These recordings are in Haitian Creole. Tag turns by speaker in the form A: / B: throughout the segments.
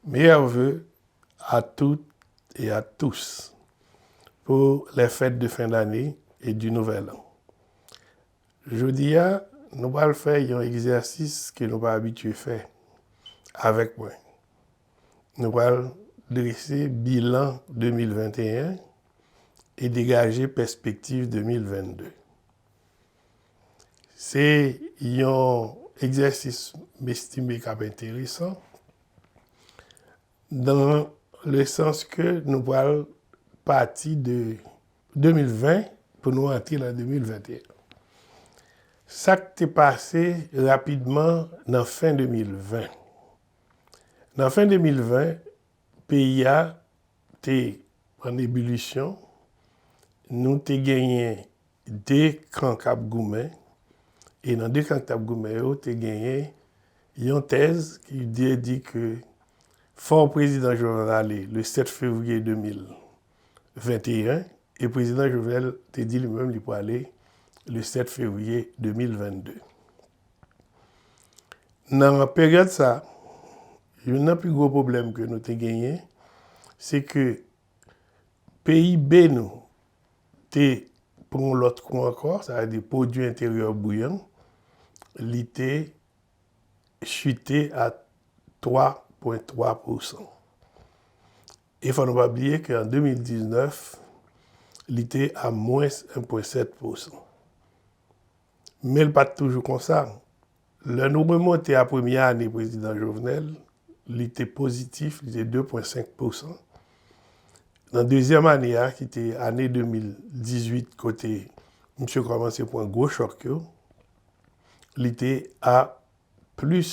A: Meyè ve a tout e a tous pou lè fèt de fen dane e di nouvèl an. Jodi a nou pral fè yon egzèsis ke nou pa abitye fè avèk mwen. Nou pral drese bilan 2021 e degaje pèspektiv 2022. Se yon egzèsis m estime k ap enteresan dan le sans ke nou pral pati de 2020 pou nou antre nan 2021. Sa k te pase rapidman nan fen 2020? Nan fen 2020, peyi a te an ebilisyon, nou te genyen 2 kan k ap goumen, e nan 2 kan ki t ap goumen yo te genyen yon tèz ki te di ke fò prezidan Jovenel ale le 7 fevriye 2021, e prezidan Jovenel te di li menm li prale le 7 fevriye 2022. Nan peryòd sa, youn nan pi gwo pwoblèm ke nou te genyen se ke PIB nou te pran yon lòt kou ankò, sa vle di pwodui enteryè brut an, li te chite a 3,3 pousan. E fò nou pa bliye ke an 2019, li te a mwens 1,7 pousan. Men l pa t toujou konsa. Lè nou remonte a premye ane prezidan Jovenel, li te pozitif, li te 2,5 pousan. Nan dezyèm ane a, ki te ane 2018 kote msye kòmanse pran gwo chòk yo, li te a plis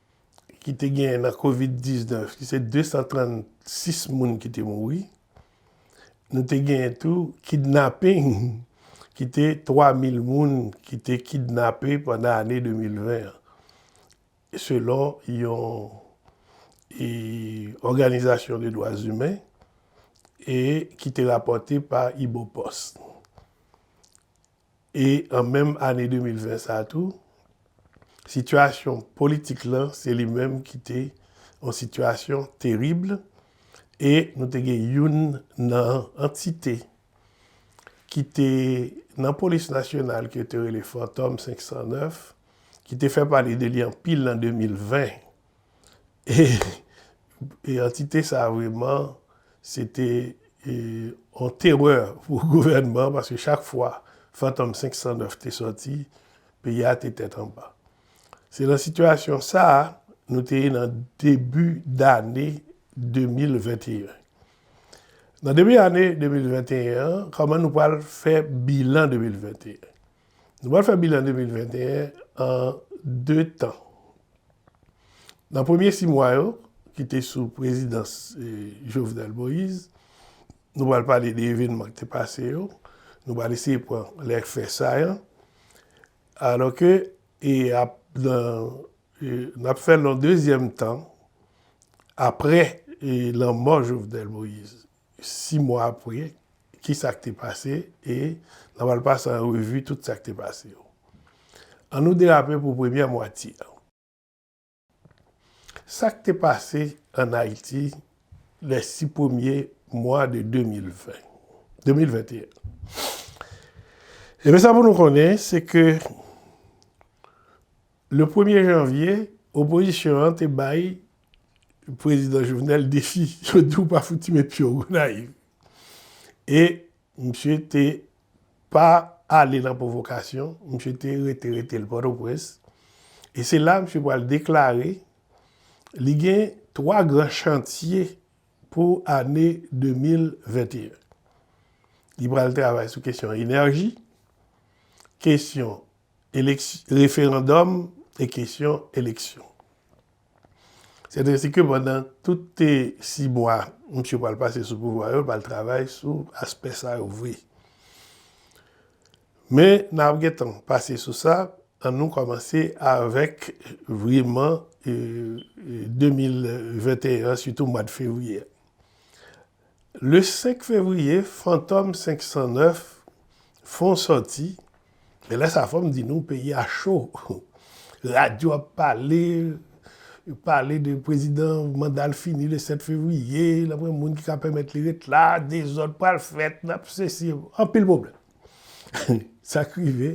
A: ki te genyen nan covid 19 ki se 236 moun ki te mouri, nou te genyen tou kidnapping ki te 3000 moun ki te kidnape pandan ane 2020 an selon yon òganizasyon de dwa zimen e ki te rapòte pa Ibopost. E an menm ane 2020 sa a tou, sitiyasyon politik lan se li menm ki te yon sitiyasyon terib e nou te gen youn nan antite ki te nan polis nasyonal ke yo te rele Fantòm 509 ki te fè pale de li anpil an 2020. E antite sa a vreman se te yon terè pou gouvènman an paske chak fwa Fantom 509 te sòti, peyi a te tèt anba. Se nan sitiyasyon sa a nou te ye nan debi dane 2021. Nan debi ane 2021 an, kòman nou pral fè bilan 2021? Nou pral fè bilan 2021 an 2 tan. Nan premye 6 mwa yo, ki te sou prezidans Jovenel Moïse, nou pral pale de evenman ki te pase yo, nou pral eseye pran lè fè sayan, alò ke nap fè nan dezyèm tan apre lanmò Jovenel Moïse. 6 mwa apre, ki sa k te pase, e nan pral pase an revi tout sa k te pase yo. An nou derape pou premyè mwatye an. Sa k te pase an Ayiti lè 6 premye mwa de 2020, 2021. Ebyen sa pou nou konnen, se ke le premye janvye, opozisyon an te bay Prezidan Jovenel defi yo di w pa fouti met pye w Gonayiv. E misye te pa ale nan pwovokasyon, misye te rete rete l Pòtoprens. E se la misye pral deklare li gen 3 gran chantye pou ane 2021. Li pral travay sou kesyon enèji, kesyon referandòm e kesyon eleksyon. Sèt resi ke pandan toute 6 mwa misye pral pase sou pouvwa yo, l pral travay sou aspè sa yo vre. Men nan ap gen tan pase sou sa, an nou kòmanse avèk vreman 2021 an sitou mwad fevriye. Le 5 fevriye Fantom 509 fon sòti, men lè sa fòm di nou peyi a cho, radyo ap pale, yo pale de prezidan manda l fini le 7 fevriye, l ap gen moun ki ka pèmèt li ret la, dezòd pral fèt, n ap sesi, anpil pwoblèm. Sa k rive,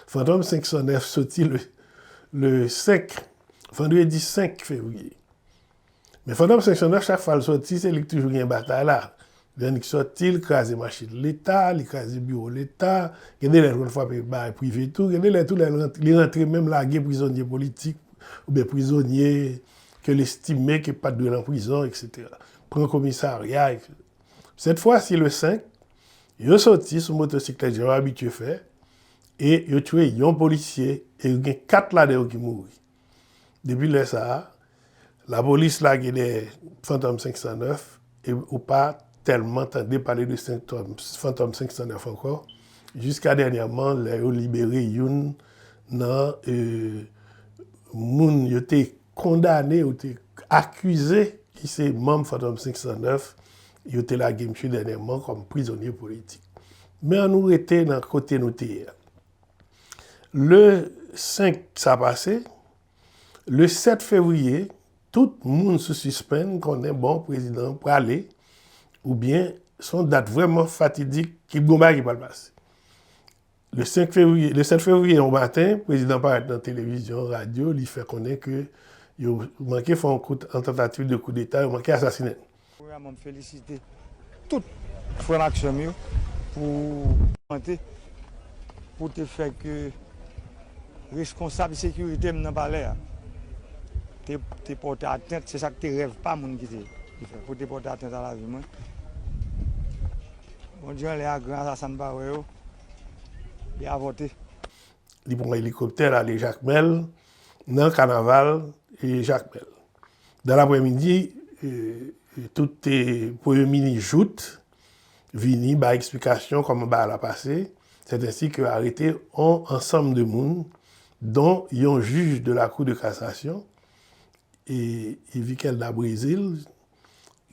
A: Fantom 509 sòti le 5, vandredi 5 fevriye. Men Fantom 509 chak fwa l sòti se li k toujou gen batay la. Lè li sòti li kraze machin leta, li kraze biwo leta, gen de lè l konn frape bagay prive tou, gen de lè tou lè li rantre menm lage prizonye politik oubyen prizonye ke l estime ke pat dwe lan prizon etc. Pran komisarya etc. Sèt fwa si le 5 yo sòti sou motosiklèt jan yo abitye fè e yo tchwe yon polisye e gen 4 ladan yo ki mouri. Depi lè sa a, lapolis lage dèyè Fantom 509 e ou pa tèlman tande pale de Fantom 509 ankò jiska dènyèman lè yo libere youn nan moun yo te kondane, yo te akize ki se manm Fantom 509, yo te lage misye dènyèman kòm prizonye politik. Men an nou rete nan kote nou te ye a. Le 5 sa pase, le 7 fevriye, tout moun sou sispenn konnen bon prezidan an prale oubyen se yon dat vrèman fatidik ki p gen yon bagay ki pral pase. Le 5 fevriye, le 7 fevriye yon maten, prezidan an parèt nan televizyon, radyo, li fè konnen ke yo manke fè yon kout, yon tantativ de koudeta, yo manke asasinen l. Premyèman m
B: felisite tout frè m ak sè m yo pou volonte pou te fè ke reskonsab sekirite m nan palè a te pòte atent, se sa ki te rèv pa moun ki te fè, pou te pòte atent a lavi mwen. Bondye anlè a gran asasen m pa wè yo, li avòte. Li pran
A: elikoptè l ale Jakmèl nan kanaval Jakmèl. Dan lapremidi, tout te premye minis Jout vini bay eksplikasyon kòman bagay la pase, sètensi ke arete on ansanm de moun, don yon jij de la kou de kasasyon, Yvikel da Brezil,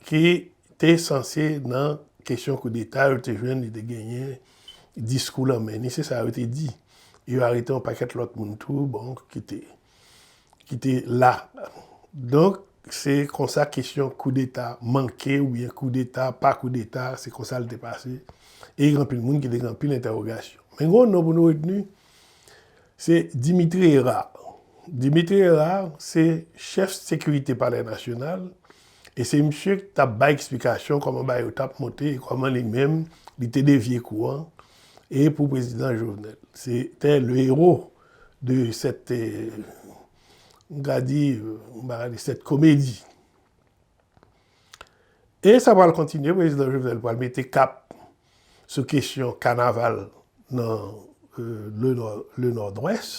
A: ki te sanse nan kesyon koudeta, yo te jwenn li te genyen diskou lan men li, se sa yo te di. Yo arete on pakèt lòt moun tou, bon, ki te. ki te la. Donk, se konsa kesyon koudeta manke oubyen koudeta pa koudeta, se konsa l te pase. E gen anpil moun ki te gen anpil entèwogasyon. Men gen yon non pou nou retni, se Dimitri Herard. Dimitri Herard se chèf sekirite palè nasyonal e se misye ki t ap bay eksplikasyon kòman bagay yo t ap monte e kòman li menm li te devye kou an e pou prezidan Jovenel. Se te le héros De sèt, m ka di, m pa ka di sèt komedi. E sa pral kontinye, prezidan Jovenel pral mete kap sou kesyon kanaval nan le Nòdwès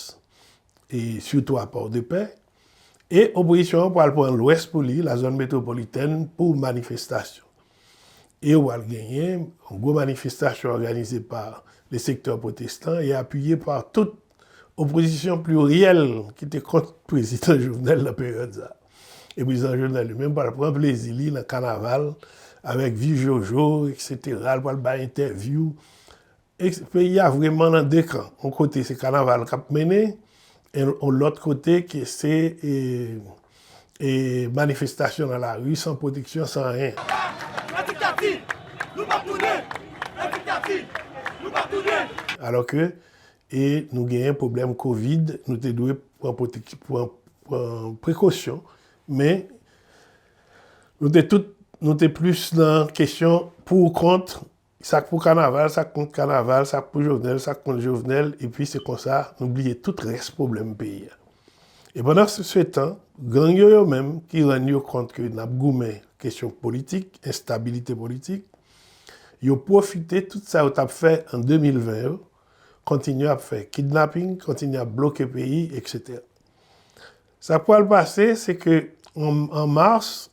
A: e sitou a Pòdepè. E opozisyon an pral pran lwès pou li, la zòn metwopolitèn pou manifestasyon. E ou pral genyen yon gwo manifestasyon òganize pa le sektè pwotestan e apiye pa tout opozisyon pliryèl ki te kont prezidan Jovenel nan peryòd sa. E prezidan Jovenel li menm pral pran plezi li nan kanaval avèk viv jojo eksetera, li pral bay entèvyou E peyi a vreman nan 2 kan. On kote se kanaval k ap mennen, on lòt kote ke se manifestasyon nan lari san pwoteksyon, san anyen. Alò ke nou genyen pwoblèm kovid, nou te dwe pran prekosyon, men nou te tout, nou te plis nan kesyon pou ou kont, Sak pou kanaval, sak kont kanaval, sak pou Jovenel, sak kont Jovenel, epi se konsa nou bliye tout rès pwoblèm peyi a. E pandan se tan, gang yo yo menm ki rann yo kont ke n ap goumen kesyon politik, enstabilite politik, yo pwofite tout sa yo t ap fè an 2020 yo, kontinye ap fè kidnaping, kontinye ap bloke peyi, eksetera. Sak pral pase se ke an mars,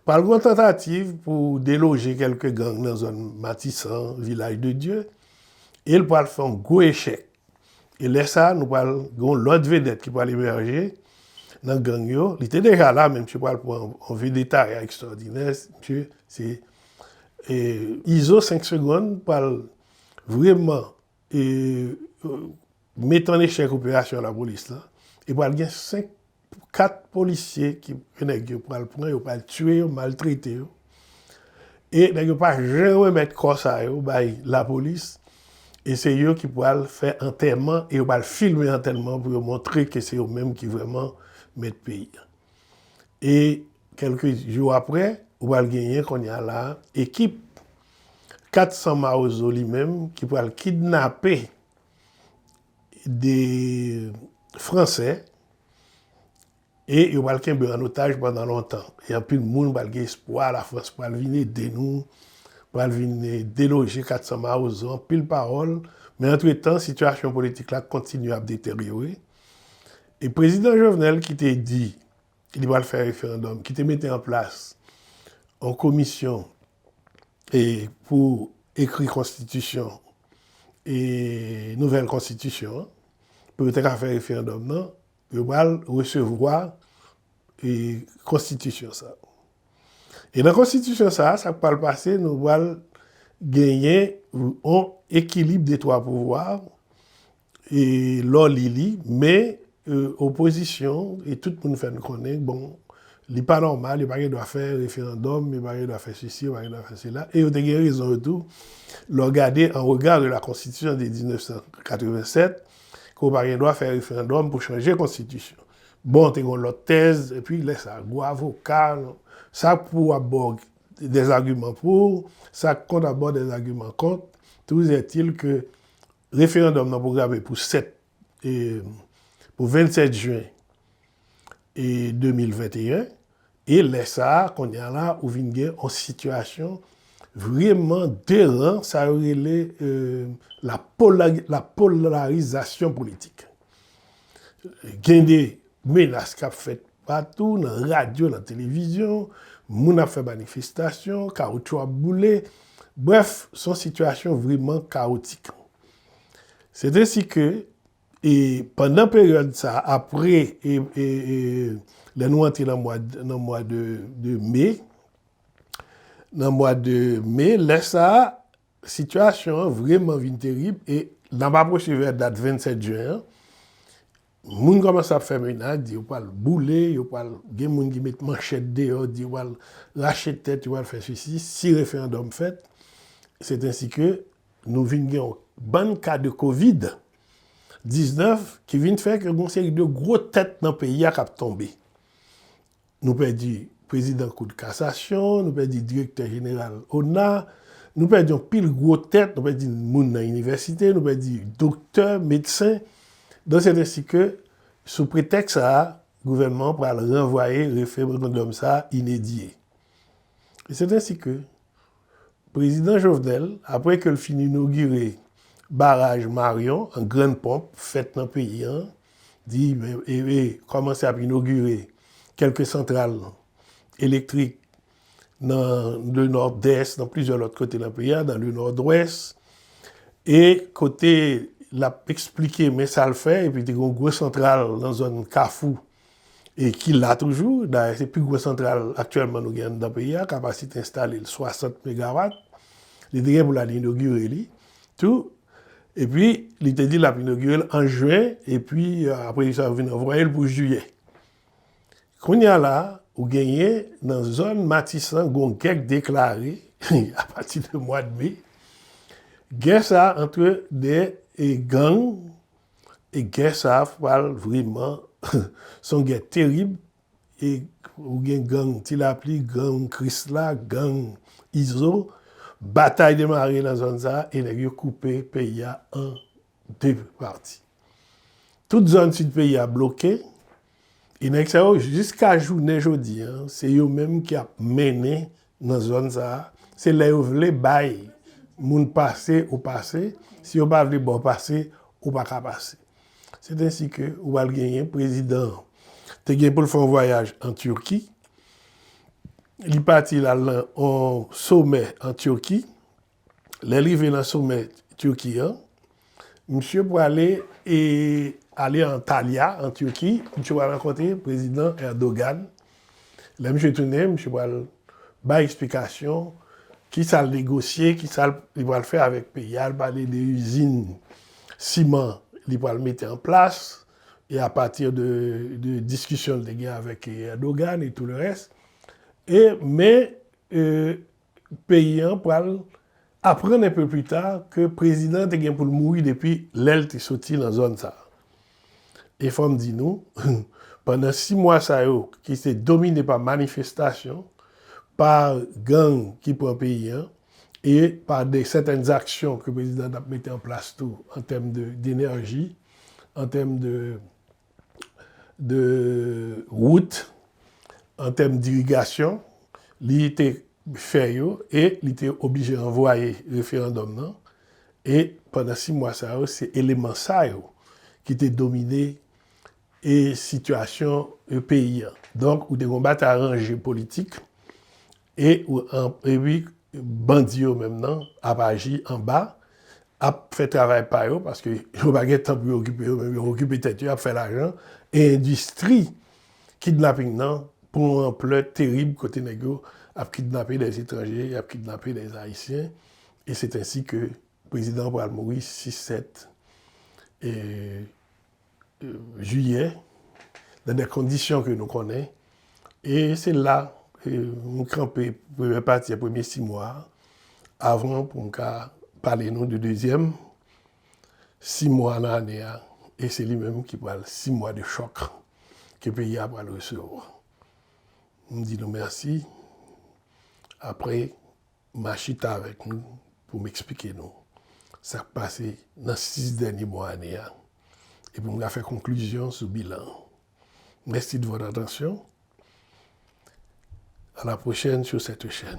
A: Pral gon tantativ pou deloje kelke gang nan zòn Matisan, Vilaj de Dye, e l pral fè yon gwo echèk. E lè sa nou pral gon lòt vedèt ki pral emèje nan gang yo. Li te deja la men misye pral pran yon vedetaya ekstwòdinè. Misye se Izo 5 segonn pral vreman. e met an echèk operasyon lapolis lan e pral gen 5 pou 4 polisye ki ke nèg yo pral pran yo pral tiye yo maltrete yo e nèg yo pa janm remèt kò sa yo bay lapolis e se yo ki pral fè antèman e yo pral filme antèman pou yo montre ke se yo menm ki vrèman mèt peyi a. e kèlke jou aprè ou pral genyen konnya la ekip 400 mawozo li menm ki pral kidnape 2 fransè e yo pral kenbe an otaj pandan lontan e anpil moun pral gen espwa la frans pral vin ede nou pral vin deloje 400 mawozo anpil pawòl men antretan sitiyasyon politik la kontinye ap deteryore E prezidan Jovenel ki te di li pral fè referandòm, ki te mete an plas yon komisyon e pou ekri konstitisyon e nouvèl konstitisyon an, pou yo te ka fè referandòm nan, yo pral resevwa e konstitisyon sa. E nan konstitisyon sa, sa k pral pase, nou pral genyen yon ekilib de twa pouvwa, E lè w li li, men opozisyon e tout moun fè n konnen bon li pa nòmal, yo pa gen dwa fè referandòm, yo pa gen dwa fè sesi, yo pa gen dwa fè sela. E yo te gen rezon yo tou lè w gade an rega de la konstitisyon de 1987 ke w pa gen dwa fè referandòm pou chanje konstitisyon. Bon, te gen yon lòt tèz, epi lè sa a gwo avoka, sa k pou ap ba w dèzagiman pou, sa k kont ap ba w dèzagiman kont, touzètil ke Referandòm nan pwograme pou 7 pou 27 jwen 2021 e lè sa a kounye a la ou vin gen yon sitiyasyon vreman deran sa yo rele la polarizasyon politik. Gen de menas k ap fèt patou nan radyo, nan televizyon, moun ap fè manifestasyon, kawotchou ap boule, brèf, se yon sitiyasyon vreman kawotik. Setensi ke, e pandan peryòd sa a, apre lè nou antre nan mwa de me, nan mwa de me, lè sa a, Sitiyasyon an vreman vin terib e n ap apwoche vè dat 27 jen an, moun kòmanse ap fè menad, di yo pral boule, yo pral, gen moun ki met manchèt deyò, di yo pral rache tèt, yo pral fè sesi, si referandòm fèt, setensi ke nou vin gen yon bann ka de kovid 19 ki vin fè ke gen yon seri de gwo tèt nan peyi a k ap tonbe. Nou pèdi prezidan kout kasasyon, nou pèdi direktè jeneral ona, nou pèdi anpil gwo tèt, nou pèdi moun nan inivèsite, nou pèdi doktè, medsen, donk sè tensi ke sou pretèks sa a gouvènman an pral ranvwaye referandòm sa a inedye. E sè tensi ke Prezidan Jovenel, apre ke l fin inogire baraj Marion an grann ponp, fèt nan peyi an, di e kòmanse ap inogire kèlke santral elektrik nan le Nòdès, nan plizyè lòt kote nan peyi a, nan le Nòdwès, e kote l ap esplike men sa l fè, epi te gen yon gwo santral nan zòn Kafou, e ki la toujou, dayè se pi gwo santral aktyèlman nou gen anndan peyi a, kapasite enstale l 60 megawat, li te gen pou l al inogire li tou, epi li te di l ap inogire l an jen, epi apre sa yo vin ranvwaye l pou jiyè. Kounye a la, ou genyen nan zòn Matisan gen yon gè k deklare apati de mwad me, gè sa antre 2 gang E gè sa a pral vreman, se yon gè terib, e ou gen gang Ti Lapli, gang Krisla, gang Izo, batay demare nan zòn sa a e nèg yo koupe peyi a an 2 pati. Tout zòn sid peyi a bloke. E nèg sa yo jiska jounen jodi an, se yo menm ki ap mennen nan zòn sa a. Se lè yo vle bay moun pase ou pase, si yo pa vle ba w pase, ou pa ka pase. C'est ainsi que ou pral genyen prezidan an te gen pou l fè yon vwayaj an Turquie, li pati l al nan yon somè an Turquie, lè l rive nan somè Turquie an, misye pwale e ale Antalya an Turki, misye pwale rankontre prezidan Erdogan, lè misye tounen misye pwale bay eksplikasyon ki sa l negosye, ki sa li pwale fè avèk peyi a, li pwale de izin siman li pwale mete an plas, e a pati de diskisyon li te gen avèk Erdogan e tou le rès, e men peyi an pral aprann enpe pli ta ke prezidan an te gen pou l mouri depi lè l te soti nan zòn sa a. E fò m di nou, pandan si mwa sa yo ki te domine pa manifestasyon, pa gang ki pran peyi an e pa de sèten zaksyon ke prezidan an t ap mete an plas tou an tèm de denèji, an tèm de. de wout, an tèm dirigasyon, li te fè yo e li te oblije ranvwaye referandòm nan e pandan 6 mwa sa yo se eleman sa yo ki te domine e sitiyasyon peyi an. Donk ou te gen yon batay ranje politik E epi bandi yo menm nan ap aji anba, ap fè travay pa yo paske yo pa gen tan pou yo okipe yo menm, yo okipe tèt yo ap fè lajan e endistri kidnaping nan pran yon anplè terib kote nèg yo ap kidnape dè etranje, y ap kidnape dè ayisyen e se t ansi ke prezidan an pral mouri 6, 7 e. jiyè, nan de kondisyon ke nou konnen, e se la m kanpe premye pati a, premye si mwa, avan pou m ka pale nou de dezyèm si mwa nan ane a, e se li menm ki pral si mwa de chòk ke peyi a pral resevwa. M di nou mèsi, apre. Ma chita avèk nou pou m eksplike nou sa k pase nan 6 dènye mwa ane a e pou m ka fè konklizyon sou bilan an. Mèsi de vòt atansyon. A la pwochèn sou sèt chèn.